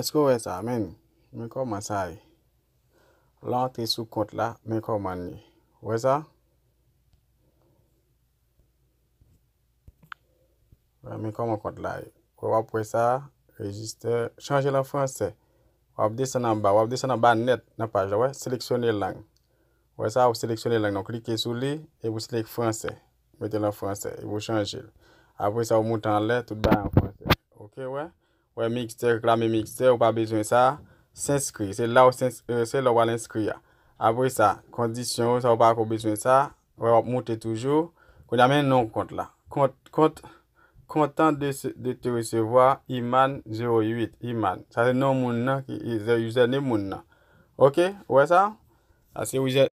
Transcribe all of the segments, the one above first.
Eske ou wè sa menn? Men kòman sa ye. Lè w antre sou kont la, men kòman l ye. Ou wè sa? Men kòman kont la ye. Ou wè, w ap wè sa, Register. Chanje l an fransè. W ap desann anba, w ap desann anba nèt nan paj la, ou wè, seleksyone lang. Ou wè sa, ou seleksyone lang nan, ou klike sou li, epi ou seleksyone fransè. Mete l an fransè. Epi ou chanje l. Apre sa ou moute anlè, tout bagay an fransè. Ok ou wè? Ou wè mixte, reklame mixte, ou pa bezwen sa. S'enskri. Se la ou pral enskri a. Apre sa, kondisyon ou, sa ou pa ko bezwen sa. Ou wè wap moute toujou. Kounye a men non kont la. Kont, kont, kontan de te resevwa Iman 08. Iman. Sa se non moun nan ki username moun nan. Ok? Ou wè sa? Sa se username.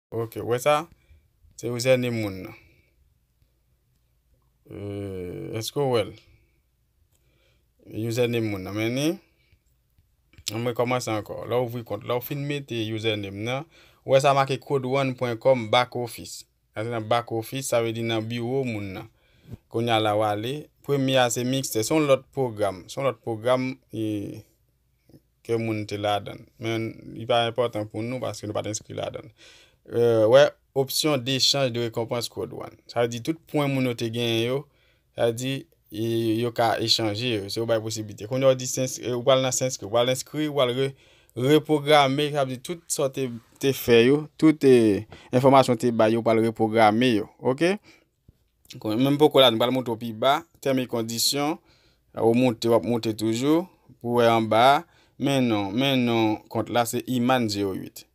Ok ou wè sa? Se yon zène moun nan. Euh, eske ou wèl? Username moun nan men ni. An mwen kòmanse ankò. La ou vwi kont. La ou fin mete username nan. Ou wè sa make codeone.com back office. Sa se nan back office, sa vle di nan biwo moun nan. Konya la ou ale. Premye a se mixte. Son lòt program. Son lòt program. ke moun te ladan l, men li pa enpòtan pou nou paske nou pa t enskri ladan l. Wè opsyon Dechanj de Rekonpans Kwo Dwann. Sa vle di tout pwen moun yo te genyen yo, sa vle di yo ka echanje yo, se yo bay posiblite. Kounye a ou di ou pral nan Senskrip, ou pral enskri, ou pral repwograme, sa vle di tout sa w te fè yo, tout enfòmasyon ou te bay yo, ou pral repwograme yo. Menm poko la nou pral monte ou pi ba, tèm e kondisyon, ou monte wap monte toujou, pou wè an ba, men non, men non, kont la se Iman 08.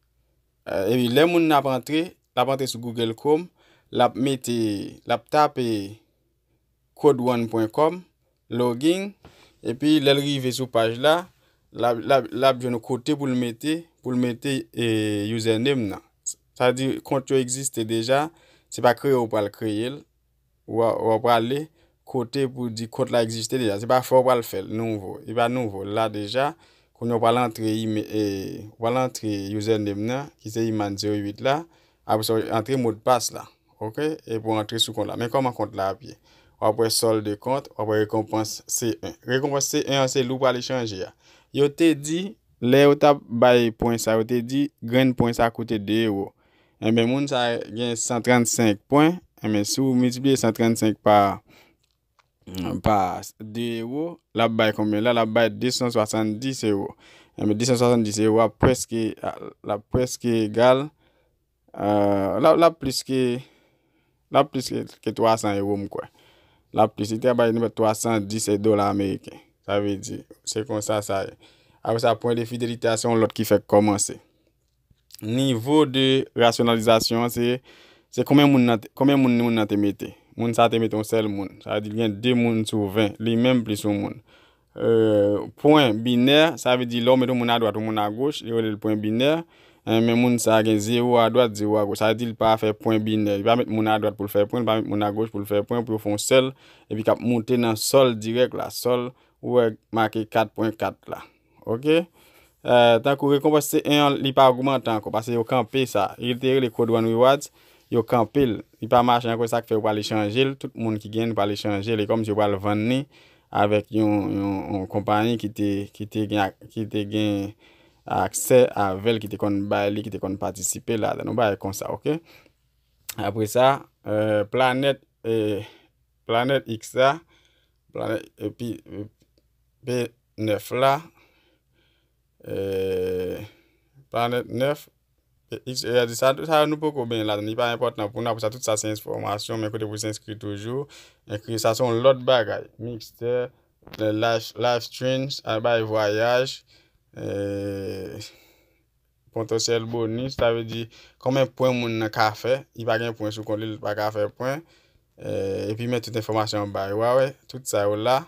E pi lè moun nan ap antre, lap antre sou Google Chrome, lap mete, lap tape codeone.com. Login, epi lè l rive sou paj la, l ap jwenn kote pou l mete pou l mete username nan. Sa vle di kont yo egziste deja, se pa kreye ou pral kreye l, ou a prale kote pou di kont la egziste deja. Se pa fè ou pral fè l nouvo, li pa nouvo, l la deja. Kounye ou pral antre username nan ki se Iman 08 la, Apre sa ou antre mo de passe la. Ok e pou antre sou kont la. Men koman kont la ap ye. Wap wè solde de kont, wap wè rekonpans C1. Rekonpans C1 an se li ou prale chanje a. Yo te di lè yo tap bay pwen sa yo te di grenn pwen sa koute 2 ewo. Enben moun sa gen 135 pwen, enben si ou miltipliye 135 pa pa 2 ewo lap bay konbyen la lap bay 270 ewo enben 270 ewo ap preske lap preske egal lap plis ke lap plis ke 300 ewo m kwè lap plis li ta bay nou 310 dola ameriken sa vle di se konsa sa ye apre sa pwen de fidelite a se yon lòt ki fèk kòmanse Nivo de rasyonalizasyon an se se konbyen moun nan konbyen moun moun nan te mete. Moun sa te mete yon sèl moun. Sa vle di gen 2 moun sou 20. Li menm plis yon moun. Euh, pwen binè, sa vle di lè ou met yon moun adwat, yon moun agoch, yo rele l pwen binè. Eh, men moun sa gen 0 adwat, 0 agoch. Sa vle di l pa fè pwen binè. Li pa met moun adwat pou l fè pwen, li pa met moun agoch pou l fè pwen, pou yo fè yon sèl, epi k ap moute nan sòl dirèk la. Sòl, ou wè make 4 pwen 4 la. Ok Tankou rekonpans se 1 an li pa ogmante anko pase yo kanpe sa e li te rele code one rewards yo kanpe l li pa mache anko sak fè yo pral echanje l tout moun ki gen li pral echanje l e kòmsi yo pral vann li avèk yon yon konpayi ki te ki te gen ki te gen aksè avè l ki te konn bay li ki te konn patisipe ladan l yon bagay konsa ok apresa planèt e Planèt X la, planèt epi p 9 la, e planèt 9 X e a di sa sa nou poko ben la ni pa enpòtan pou nou apre sa tout sa se enfòmasyon men kote pou se enskri toujou enkri sa son lòt bagay mixte live streams albay vwayaj e Potansyèl bonis, sa vle di konbyen pwen moun nan ka fè, li pa gen pwen sou kont li, li pa ka fè pwen. Eh, epi men tout enfòmasyon an ba yo, wa wè, tout sa yo la,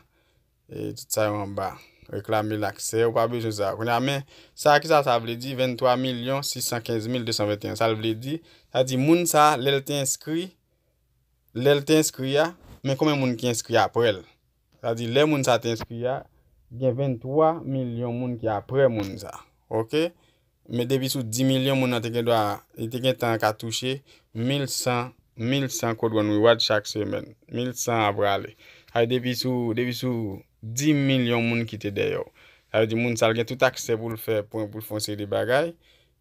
e tout sa yo an ba. Reklame laksè, ou pa bezwen sa. Kounye a men, sa ki sa sa vle di, 23 milyon 615 mil 221, sa l vle di, sa di moun sa, lè l te enskri, lè l te enskri a, men konbyen moun ki enskri aprè l. Sa vle di lè moun sa te enskri a, gen 23 milyon moun ki aprè moun sa. Ok? Men depi sou 10 milyon moun nan te gen dwa, li te gen tan ka touche 1100 1100 code one reward chak semèn. 1100 a prale. Sa vle depi sou depi sou 10 milyon moun ki te dèyè w. Sa vle di moun sa l gen tout aksè pou l fè pwen pou l fè yon seri de bagay.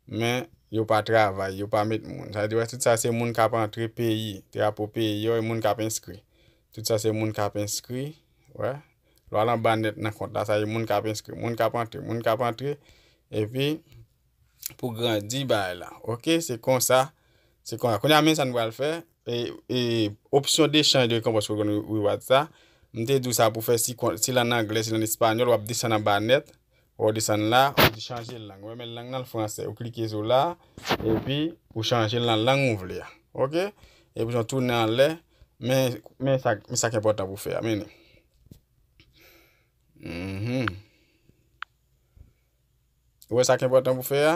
Men, yo pa travay, yo pa met moun. Sa vle di wè tout sa se moun k ap antre peyi, drapo peyi yo e moun k ap enskri. Tout sa se moun k ap enskri, wè. Lè w al anba nèt nan kont la, sa se moun k ap enskri, moun k ap antre, moun k ap antre epi pou grandi bagay la. Ok, se konsa, se konsa. Kounye a men sa n pral fè, e opsyon dechanj de rekonpans pou w jwenn rewards la, m te di w sa pou fè si kont, si l an anglè, si l an espanyòl, w ap desann anba nèt, Ou desann la, ou di chanje lang. Ou renmen lang nan l franse. Ou klike sou la, epi ou chanje l nan lang ou vle a. Ok? Epi jan tounen anlè, men, men sa, men sa ki enpòtan pou fè a. Mennen. Mm-hmm. Ou wè sa ki enpòtan pou fè a?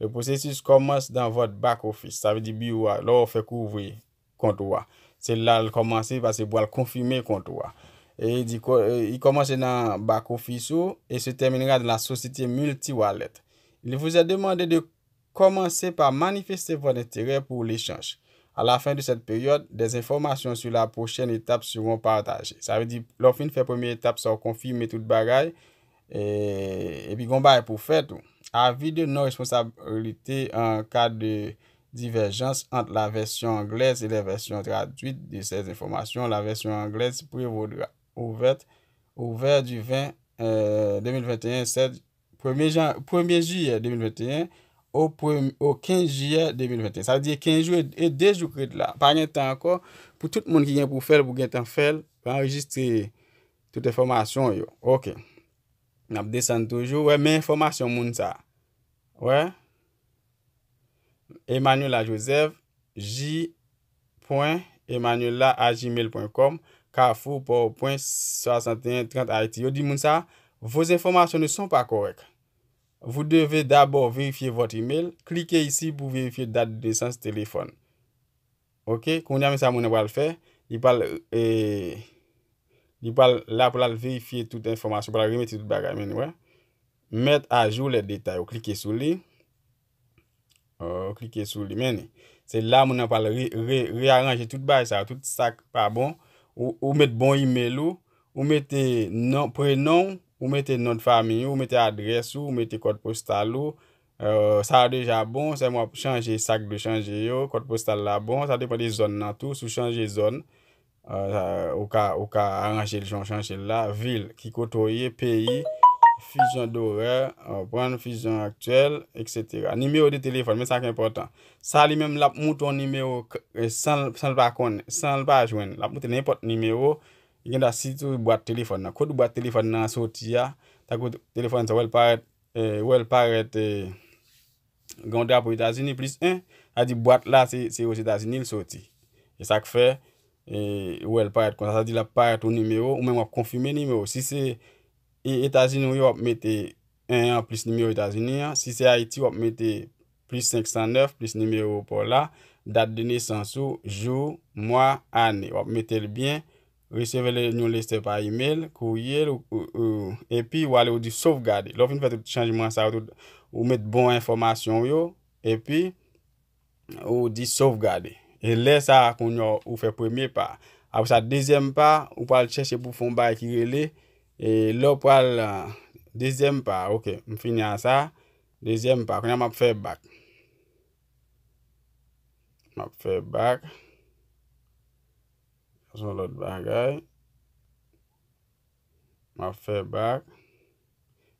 Le processus commence dans votre back office, sa vle di biwo a, lè w fèk ouvri kont ou a, se la l kòmanse paske pou al konfime kont ou a. E li di il commence nan back office ou et se terminera dans la société multi-wallet. Il vous est demandé de commencer par manifester votre intérêt pour l'échange. À la fin de cette période, des informations sur la prochaine étape seront partagées. Sa vle di lè w fin fè premye etap sa w konfime tout bagay, E pi gon bagay pou fè tou. Avi de non responsabilite an ka de divèjans ant la vèsyon anglèz e la vèsyon tradwit de sè enfòmasyon, la vèsyon anglèz prevodra. Ouvert, Ouvert du 20 euh, 2021, 7, premye jan, premye jiyè 2021, o prem, o 15 jiyè 2021. Sa vle di e 15 jou e 2 jou krèt la. Pa gen tan ankò pou tout moun ki gen pou fèl pou gen tan fèl, anrejistre Tout enfòmasyon w yo. Ok. N ap desann toujou. Wè men enfòmasyon moun sa. Wè. Emmanuella Joseph, j.emmanuella@gmail.com, Carrefour, Port-au-Prince, 61 30 Haiti. Yo di moun sa, Vos informations ne sont pas correctes. Vous devez d'abord vérifier votre email. Cliquez ici pour vérifier date de naissance, téléphone. Ok kounya men sa moun nan pral fè li pral li pral la pou lal verifye tout enfòmasyon pou lal remete tout bagay men nou wè met a jou lè detay ou klike sou li ou klike sou li men ni se la moun nan pral re aranje tout bagay sa tout sak pa bon ou met bon email ou ou mete non prenon ou mete non de famiy ou mete adrès ou ou mete kòd postal ou Sa a deja bon, sèlman w ap chanje sa k dwe chanje yo. Kòd postal la bon, sa depan de zòn nan tou. Si w chanje zòn, ou ka aranje l jan w chanje l la. Vil, ki kote w ye, peyi, fizyon dorè, konprann, fizyon aktyèl, eksetera. Nimewo de telefòn, men sa k enpòtan. Sa li menm l ap moute yon nimewo san l pa konnen, san l pa jwenn. L ap moute nenpòt nimewo, gen dwa sitou bwat telefòn nan. Kòd bwat telefòn nan an soti a, tankou telefòn sa w wè l parèt. wè l parèt gen yon drapo Etazini plis 1, sa di bwat la se Ozetazini l soti. E sa k fè ou wè l parèt konsa, sa di l ap parèt yon nimewo, ou menm w ap konfime nimewo. Si se Etazini w ye, w ap mete 1 an plis nimewo Etazini an, si se Ayiti w ap mete plis 509 plis nimewo pa w la, dat de nesans ou, jou, mwa, ane. W ap mete l byen. Resevè lè yon lestè pa email, kourye, epi ou ale ou di sovgade. Lè ou fin fè tout chanjman sa yo tout, ou met bon enfòmasyon ou yo, epi ou di sovgade. E lè sa a kounye ou fè premye pa. Apre sa dezyèm pa, ou pral chèche pou fon bay ki rele, e lè ou pral dezyèm pa, ok, m fini a sa, dezyèm pa, kounye a m ap fè bak. M ap fè bak. Sa son lòt bagay. Map fè bak.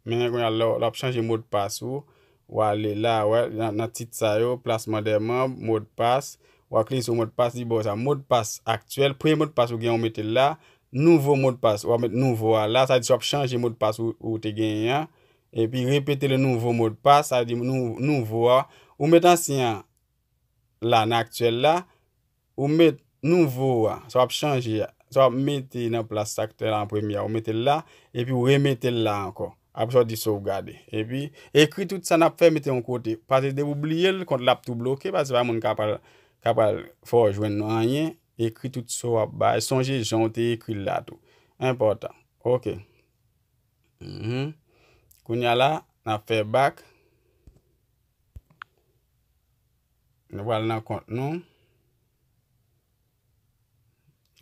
Men kon yal lò ap chanje mod pas ou. Ou ale la wè nan tit sa yo. Plasman de manb, mod pas. Ou a kliye sou mod pas li baw sa. Mod pas aktyèl. Premye mod pas ou gen ou mete la. Nouvo mod pas ou a met nouvo a la. Sa di sou ap chanje mod pas ou te gen yan. E pi repete le nouvo mod pas. Sa di nouvo a. Ou met ansyen la nan aktyèl la. Ou met nouvo a, sa w ap chanje a, sa w ap mete nan plas sa ki te la an premye a, ou mete l la, epi ou remete l la ankò. Apre sa, ou di sovgade. Epi, ekri tout sa n ap fè, mete yon kote. Pase depi ou bliye l, kont la ap tou bloke, pase se pa moun k ap al fè w jwenn anyen. Ekri tout sa w ap bay. Sonje jan ou te ekri l la tou. Enpòtan. Ok. Kounye a la, n ap fè bak. Nou pral nan kont nou.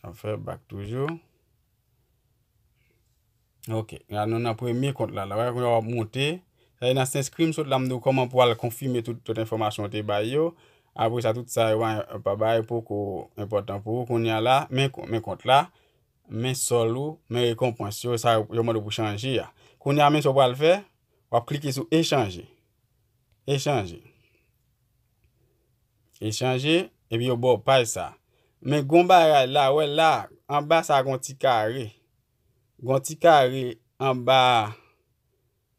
An fè bak toujou. Ok, la nou nan premye kont la. La wè kwen wap monte. Sa yon asens krim sot la mdou koman pou al konfime tout tout informasyon te bay yo. Apo sa tout sa yon pa bay pou ko important pou. Koun ya la, men kont la, men sol ou, men rekonpans yo, sa yon mande pou chanje ya. Koun ya men sou pral fè, wap klike sou e chanje. E chanje. E chanje, epi yo bo paj sa. Men gon bagay la, wè la, anba sa gon ti kare. Gon ti kare anba,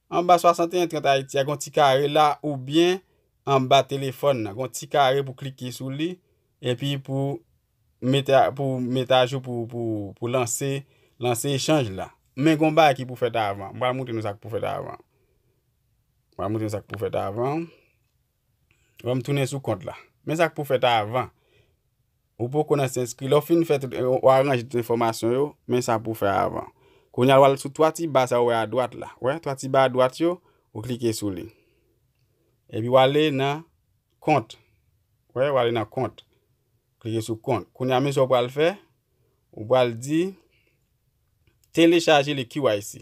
anba 6130 Ayiti a, gon ti kare la, ou byen anba telefon nan. Gon ti kare pou klike sou li, epi pou mete, pou mete ajou pou, pou, pou lanse, lanse e chanj la. Men gon bagay ki pou fèt avan. Mwen pral moutre nou sa ki pou fèt avan. Mwen moutre sa k pou fèt avan. Mwen m tounen sou kont la. Men sa k pou fèt avan. Ou poko nan se enskri. Lè w fin fè tout, ou aranje tout enfòmasyon yo, men sa pou fè avan. Kounye a w al sou 3 ti ba sa ou wè a dwat la. Wè 3 ti ba a dwat yo, ou klike sou li. Epi w ale nan kont. Wè, w ale nan kont. Klike sou kont. Kounye a men sa w pral fè, ou pral di telechaje le KYC.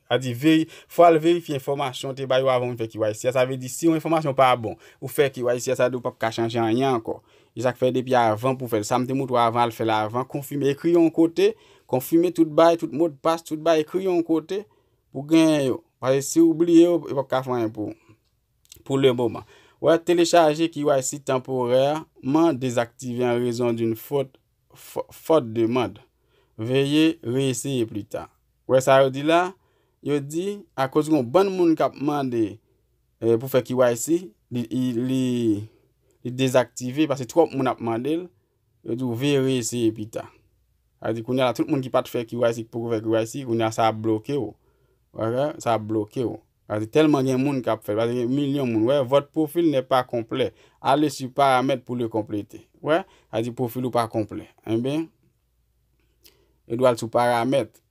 Sa vle di veri, fò al verifye enfòmasyon ou te bay yo avan ou vin fè KYC a. Sa vle di si yon enfòmasyon pa bon, ou fè KYC a, sa vle di ou pap ka chanje anyen ankò. E sa k fè depi avan pou fè l. Sa m te montre w avan, al fè l avan, konfime, ekri yon kote, konfime tout bagay, tout modpas, tout bagay, ekri yon kote pou genyen yo. Paske si ou bliye yo, yo pap ka fè anyen pou ou. Pou le moman. Wè, telechaje KYC tanporèman dezaktive an rezon d'une faute fòt demand. Veye reeseye plita. Ou wè sa yo di la? Yo di, akoz gen yon bann moun k ap mande pou fè KYC, li dezaktive paske twòp moun ap mande l. Yo di w veye reeseye pita. Sa vle di kounye a la, tout moun ki pa t fè KYC ki poko fè KYC, kounye a sa ap bloke w. Sa ap bloke w. Paske tèlman gen moun kap fèl. Paske gen milyon moun. Wè, votre profil n'est pas complet. Allez sur paramètres pour le compléter. Wè, sa di profil ou pa konplè. Enben, yo dwe al sou paramètres.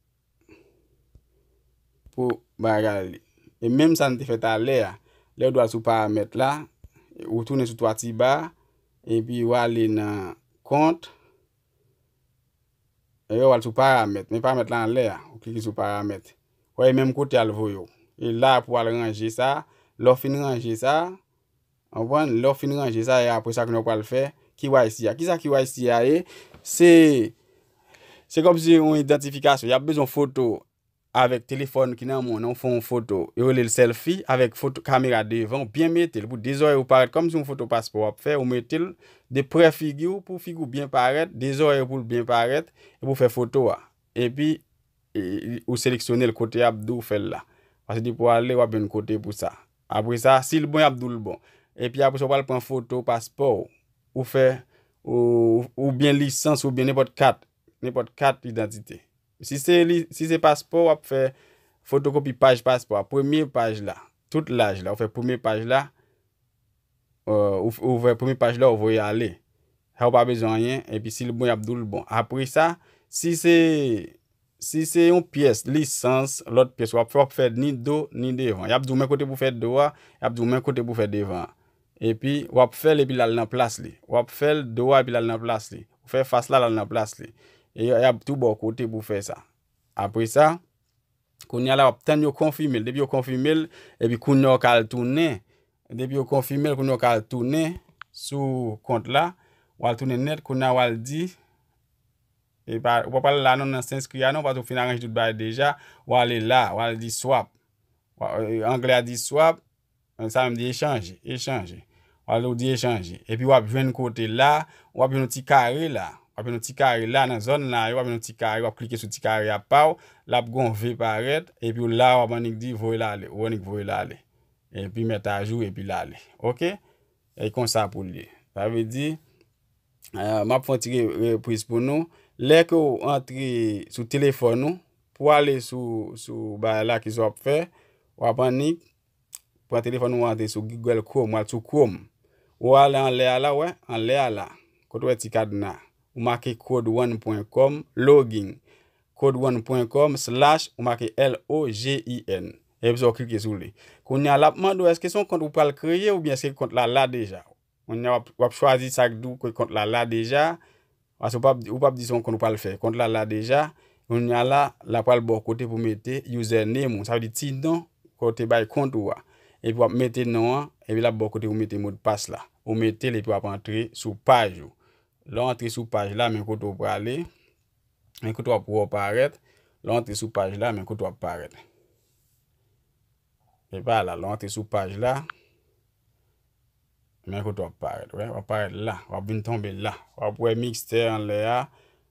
Pou bagay li. E menm sa n te fè talè a. Lè ou dwe al sou paramètres la, ou tounen sou 3 ti ba, epi ou ale nan kont, Epi wè wal sou paramèt, men paramèt la anlè a, ou klike sou paramèt. Wè e menm kote al voye w. E la pou al ranje sa, lè w fin ranje sa, anpwen, lè w fin ranje sa e apre sa kounye w pral fè KYC a. Kisa KYC a ye? Se, se kòmsi yon idantifikasyon. Yap bezwen foto avèk telefòn ki nan men w nan ou fè yon foto yo rele l sèlfi avèk foto kamera devan ou byen mete l pou de zòrèy ou parèt kòmsi yon foto paspò w ap fè ou mete l de prè figi w pou figi w byen parèt de zòrèy ou pou l byen parèt epi ou fè foto a epi ou seleksyone l kote y ap di w fè l la paske depi w ale w ap jwenn kote pou sa apre sa si l bon y ap di w l bon epi apre sa ou pral pran foto paspò w ou fè oubyen lisans oubyen nenpòt kat nenpòt kat idantite. Si se li, si se paspò wap fè fotokopi paj paspò a, premye paj la, tout laj la, ou fè premye paj la, ou fè premye paj la ou voye ale. Sa ou pa bezwen anyen, epi si l bon yap doul bon. Apre sa, si se si se yon pyès lisans, lòt pyès wap fè, wap fè ni do, ni devan. Yap di w men kote pou fè do a, yap di w men kote pou fè devan an. Epi wap fèl epi lal nan plas li. Wap fèl do a epi lal nan plas li. Ou fè fas la lal nan plas li. E yap tou baw kote pou fè sa. Apre sa, kounya la wap tann yo konfime l. Depi yo konfime l, epi kounya ou ka al tounen. Depi yo konfime l, kounya ou ka al tounen sou kont la. Wal tounen nèt, kounya wal di, ou pa pral la non nan senskri a non paske ou fin aranje tout bagay deja. Wale la, wal di swap. Anglè a di swap, Nan sa m di echanje, echanje. Ou ale ou di echanje. Epi w ap jwenn kote la, w ap jwenn yon ti kare la. W ap jwenn yon ti kare la nan zòn la yo, w ap jwenn yon ti kare, w ap klike sou ti kare a pa w, l ap gen yon V parèt, epi w la w ap annik di voye l ale, ou annik voye l ale. Epi mèt ajou epi l ale. Ok? E konsa pou l ye. Sa vle di. m ap fè yon ti repriz pou nou. Lè ke ou antre sou telefòn ou, pou ale sou bagay la, kisa w ap fè? W ap annik, pran telefòn ou, ou antre sou Google Chrome, ou al sou Chrome. Ou ale anlè a la, wè, anlè a la, kote ou wè ti kadna a. Ou make code1 pwen kòm, login, code1 pwen kòm, slash, ou make L-O-G-I-N. Epi sa ou klike sou li. Kounya l ap mande ou èske se yon kont ou pral kreye oubyen èske kont la la deja. Kounya wap chwazi sak di w ke kont la la deja, pase ou pap ou pap di se yon kont ou pral fè. Kont la la deja, kounya la la pral ba w kote pou mete username ou, sa vle di ti non ke w te bay kont ou a. Epi wap mete non an, epi lap ba w kote pou mete modpas la. Ou mete l epi wap antre sou paj ou. Lè w antre sou paj la men kote w prale, men kote wap wè w parèt, lè w antre sou paj la men kote wap parèt. E pa la, lè w antre sou paj la, men kote w ap parèt, w wè, w ap parèt la, w ap vin tonbe la, w ap wè mixte anlè a,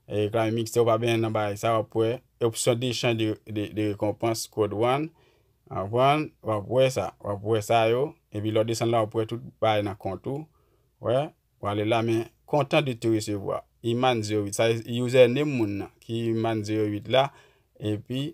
e k la men mixte ou pa benyen nan bagay sa, w ap wè opsyon dechan de rekonpans kod wan, w konprann, w ap wè sa, w ap wè sa yo, epi lè w desann la w ap wè tout bagay nan kont ou, wè, w ale la men kontan de te resevwa, Iman 08, sa se username moun nan ki Iman 08 la, epi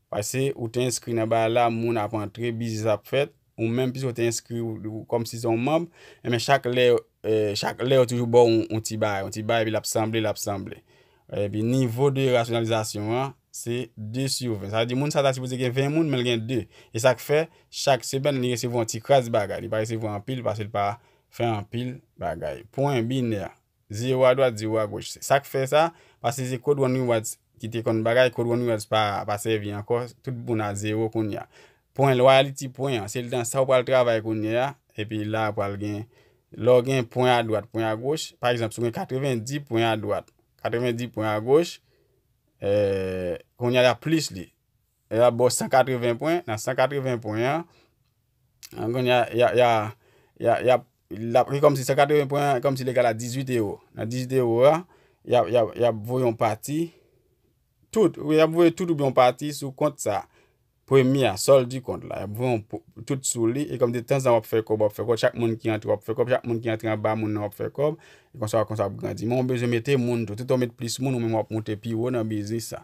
Pase ou te enskri nan bagay la moun ap antre biznis ap fèt ou menm pise ou te enskri ou kòmsi se yon manb enben chak lè chak lè yo toujou baw yon ti bagay yon ti bagay epi lap sanble lap sanble epi nivo de rasyonalizasyon an se 2 sur 20 sa vle di moun sa ta sipoze gen 20 moun menl gen 2 e sak fè chak semèn li resevwa yon ti kras bagay li pa resevwa anpil pasel pa fè anpil bagay pwen binè Zyew a dwat zyew a goch se sak fè sa pase se code one rewards ki te konn bagay code one rewards pa pa sèvi ankò tout moun a zero kounya pwen loyalty pwen an se dan sa ou pral travay kounyea epi la pral gen lè w gen pwen a dwat pwen a goch pa egzanp si w gen 90 pwen a dwat 90 pwen a goch eh kounya yap plis li. Y ap ba w 180 pwen. Nan 180 pwen an, kounye a, y a, y a, y a, y ap, l ap, e kòmsi 180 pwen an, kòmsi l egal a 18 ewo. Nan 18 ewo a, y ap, y ap, y ap voye yon pati, tout, y ap voye tout oubyen yon pati sou kont sa a. Premye a, solde du compte la. Y ap voye yon po, tout sou li. E kòmsi tan zan w ap fè kòb, w ap fè kòb. Chak moun ki antre, w ap fè kòb. Chak moun ki antre anba moun nan, w ap fè kòb. E konsa, konsa w ap grandi. Men w bezwen mete moun tou. Tout tan w met plis moun, ou menm w ap monte pi wo nan biznis la.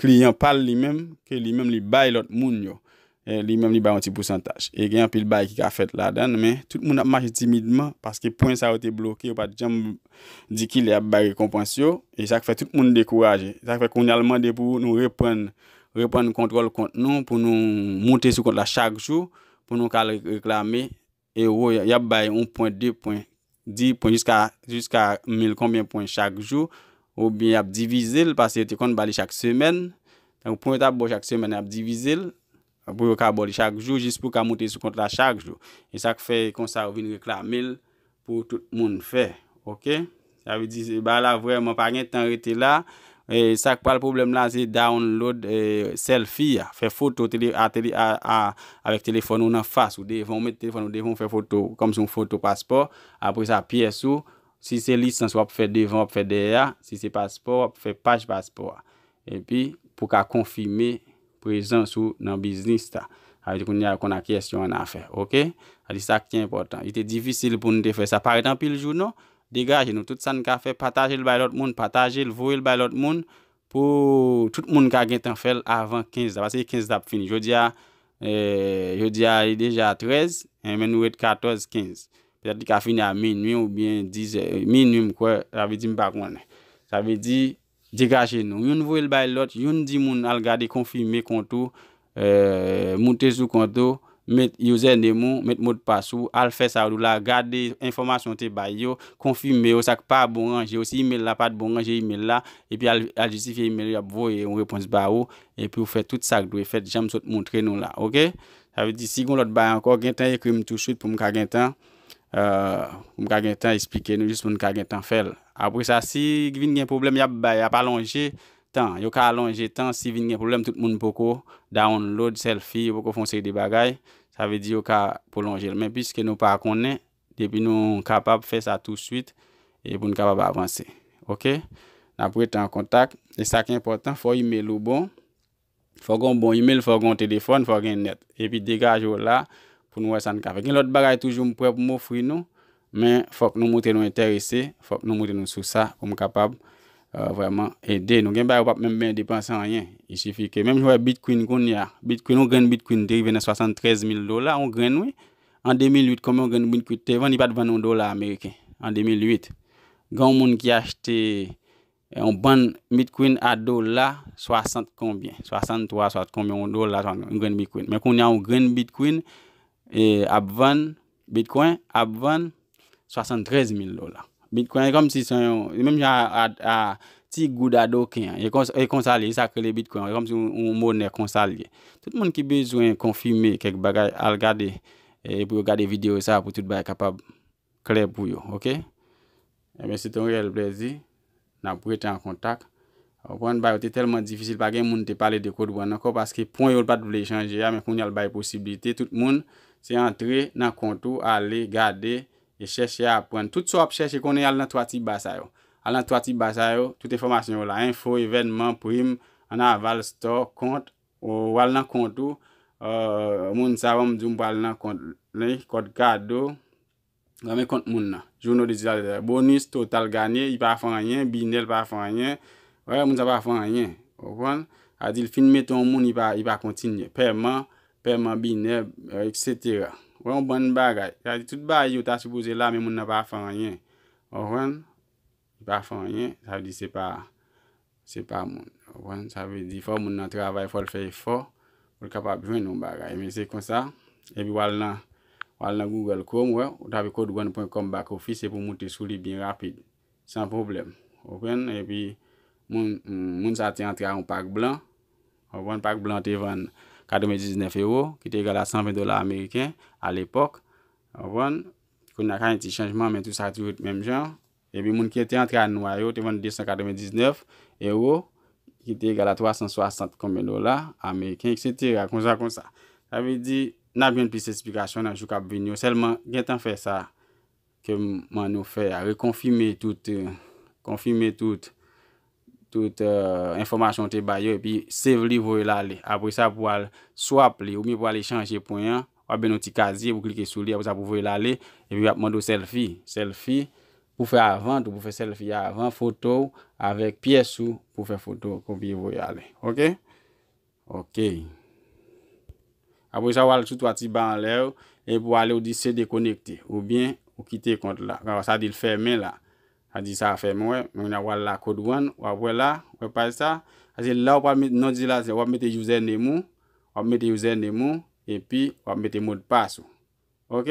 kliyan pa l li menm, ke li menm li bay lòt moun yo, li menm li bay yon ti pousantaj. E gen anpil bagay ki ka fèt ladan l, men tout moun ap mache timidman, paske pwen sa yo te bloke, yo pa t janm di ki lè y ap bay rekonpans yo, e sa k fè tout moun dekouraje. Sa k fè kounye a l mande pou nou reprann, reprann kontwòl kont nou, pou nou moute sou kont la chak jou, pou nou ka al reklame. Euro y ap bay 1 pwen 2 pwen 10 pwen jiska jiska mil konbyen pwen chak jou oubyen y ap divize l pase yo te konn ba li chak semèn donk pwen yo t ap ba w chak semèn y ap divize l pou yo ka ba w li chak jou jis pou ka monte sou kont la chak jou e sa k fè konsa yo vin reklame l pou tout moun fè ok. Sa vle di bagay la vrèman pa gen tan rete la. Sak pral pwoblèm la se download selfi a, fè foto avèk telefòn ou nan fas ou, devan ou met telefòn ou devan ou fè foto kòmsi yon foto paspò, apre sa pyès ou, si se lisans wap fè devan wap fè dèyè a, si se paspò wap fè paj paspò a. Epi, pou ka konfime prezans ou nan biznis la. Sa vle di kounye a yo konn ak kiyès yo annafè. Ok? Sa vle di sa ki enpòtan. Li te difisil pou n te fè sa. Pa ret anpil jou non. Degaje nou. Tout sa n ka fè, pataje l bay lòt moun. Pataje l, voye l bay lòt moun pou tout moun ka gentan fè l avan 15 la. Paske 15 la ap fini. Jodi a, jodi a li deja 13, men nou ret 14, 15. Petèt li ka fini a minui oubyen dizè. Minui m kwè. Sa vle di m pa konnen. Sa vle di. Degaje nou. Youn voyel bay lòt, youn di moun al gade konfime kont ou, moute sou kont ou, met username ou, met modpas ou, al fè sa yo di w la, gade enfòmasyon ou te bay yo, konfime yo, sa k pa bon ranje yo, si email la pat bon ranje email la, epi al jistifye email yo y ap voye yon repons ba ou, epi w fè tout sa k dwe fèt jan m sot moutre nou la ok. Sa vle di si gon lòt bagay ankò gentan ekri m touswit pou m ka gentan. Pou m ka gen tan esplike nou jis pou n ka gen tan fè l. Apre sa, si vin gen pwoblèm, y ap bay, y ap alonje tan. Yo ka alonje tan si vin gen pwoblèm tout moun poko download selfie, yo poko fè yon seri de bagay. Sa vle di yo ka pwolonje l. Men piske nou pa konnen, depi nou kapab fè sa touswit e pou n kapab avanse. Ok, n ap rete an kontak. E sa ki enpòtan, fò imel ou bon. Fò gen yon bon email, fò gen yon telefòn, fò gen nèt. Epi degaje w la pou nou wè sa n ka fè. Gen lòt bagay toujou m prè pou m ofri nou, men fòk nou montre nou enterese, fòk nou montre nou sou sa pou m kapab vrèman ede nou. Gen bagay ou pap menm bezwen depanse anyen. I sifi ke menm jan w wè Bitkwin kounye a, Bitkwin, yon grenn Bitkwin te rive nan 73 mil dola, yon grenn wi. An 2008 konbyen yon grenn Bitkwit te vann? Li pa t vann yon dola ameriken an 2008. Gen yon moun ki achte Yon bann mit queen a dola 60 konbyen 63 soit konbyen yon dola yon grenn mit queen men kounya yon grenn bit queen ap vann bitcoin ap vann 73 mil dola bitcoin e kòmsi se yon e menm jan a ti goud a doken an e konsa li ye se sak rele bitcoin e kòmsi yon monè konsa li ye tout moun ki bezwen konfime kèk bagay al gade pou yo gade video sa pou tout bagay kapab. klè pou yo ok enben se te yon reyèl plèzi n ap rete an kontak ou konprann bagay yo te tèlman difisil pa gen moun te pale de Claude Brand ankò paske pwen yo l pa t vle chanje a men kounye a l bay posiblite tout moun se antre nan kont ou ale gade e chèche aprann tout sa w ap chèche konnen al nan 3 ti ba sa yo al nan 3 ti ba sa yo tout enfòmasyon yo la enfo evènman prim an aval store kont Ou pral nan kont ou. Ahh moun sa banm diw m pral nan kont li kòd kado Ranmen kont moun nan Journaux de Digital Eternel Bonus total ganye Li pa fè anyen Bine li pa fè anyen Wè moun sa pa fè anyen Ou konprann Sa vle di li fin mete yon moun li pa kontinye Pèman Pèman Bine etc Wè yon bann bagay Sa vle di tout bagay yo ta sipoze la men moun nan pa fè anyen Ou konprann. Li pa fè anyen, sa vle di se pa, se pa moun. Ou konprann? Sa vle di fò moun nan travay, fò l fè efò pou l kapab jwenn yon bagay. Men se konsa, epi w al nan, w al nan Google Chrome, ou wè, ou tape codewon pwen kòm back office epi w moute sou li byen rapid. San pwoblèm. Ou konprann? Epi moun, moun sa a te antre ak yon pak blan. Ou konprann? Pak blan an te vann 99 ewo, ki te egal a 120 dola ameriken alepòk. Ou konprann? Kounye a ka gen ti chanjman men tou sa tou ret menm jan. Epi moun ki te antre a nwa yo te vann 299 ewo ki te egal a 360 konbyen dola ameriken eksetera konsa konsa. Sa vle di n ap jwenn plis esplikasyon nan jou k ap vini yo sèlman gen tan fè sa ke m mann nou fè a rekonfime tout konfime tout tout enfòmasyon ou te bay yo epi save li voye l ale apre sa pou al swap li oubyen pou al echanje pwen an wap gen yon ti kazye pou klike sou li apre sa pou voye l ale epi yap mande w sèlfi sèlfi pou fè avan tou pou fè sèlfi avan foto w avèk pyès ou pou fè foto kopye voye ale ok. Ok. Apre sa ou al sou 3 ti ba anlè yo e pou ale ou di se dekonekte ou byen ou kite kont la. Kaba sa di l fèmen la. Sa di sa fèmen wè. Mwen nan wal la kod wan. Wap wè la. Wè paj sa. Sa di la ou pa met non di la se wap mete user name ou. Wap mete user name ou. E pi wap mete modpas ou. Ok.